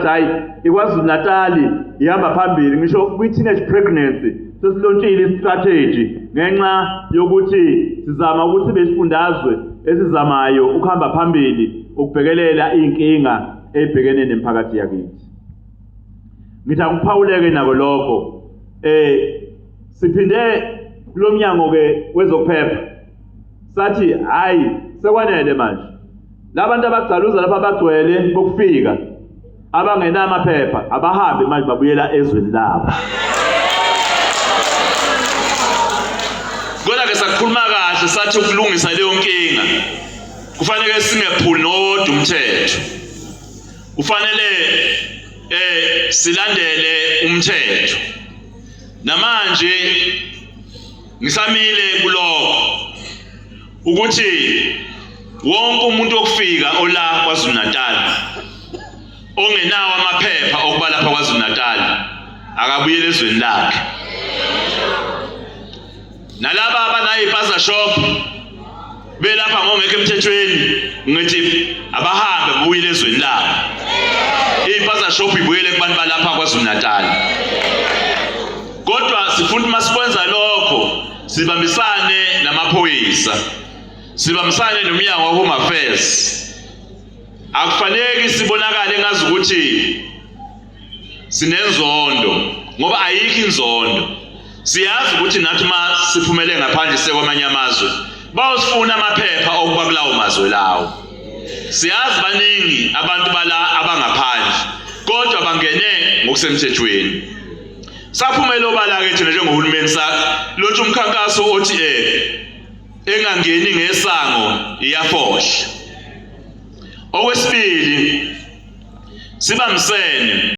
hayi ikwaZulu Natali ihamba phambili ngisho kwi-teenage pregnancy sesilontshile i-strategy ngenxa yokuthi sizama ukuthi besifundazwe esizamayo ukuhamba phambili ukubhekelela iy'nkinga ey'bhekene nemiphakathi yakithi ngithi akuphawuleke nako lokho um siphinde kulo mnyango-ke wezokuphepha sathi hhayi sekwanele manje Labantu abagcaluza lapha abagcwele bokufika abangenamaphepha abahambe manje babuyela ezweni labo. Kodwa ke sakhuluma kahle sathi ukulungisa leyo nkinga kufanele singephuli nowodwa umthetho. Kufanele eh silandele umthetho. Namanje ngisamile kuloko ukuthi wonke umuntu okufika ola KwaZulu-Natal ongenawo amaphepha okuba lapha KwaZulu-Natal akabuyele ezweni lakhe nalaba abanayipaza shop belapha ngongekho emthethweni ngithi abahambe buyile ezweni labo ipaza shop ibuyele kubantu balapha KwaZulu-Natal kodwa sifuna uma sikwenza lokho sibambisane namaphoyisa sibambisane nomnyango wa-home affairs akufaneki sibonakale ngazi ukuthi sinenzondo ngoba ayikho inzondo siyazi ukuthi nathi uma siphumele ngaphandle sekwamanye amazwe bawusifuna amaphepha okuba kulawo mazwe lawo siyazi baningi abantu bala abangaphandle kodwa bangene ngokusemthethweni Saphumela obala-ke thina njengohulumeni salontsha umkhankaso othi um engangeni ngesango iyafohla. Okwesibili sibambisene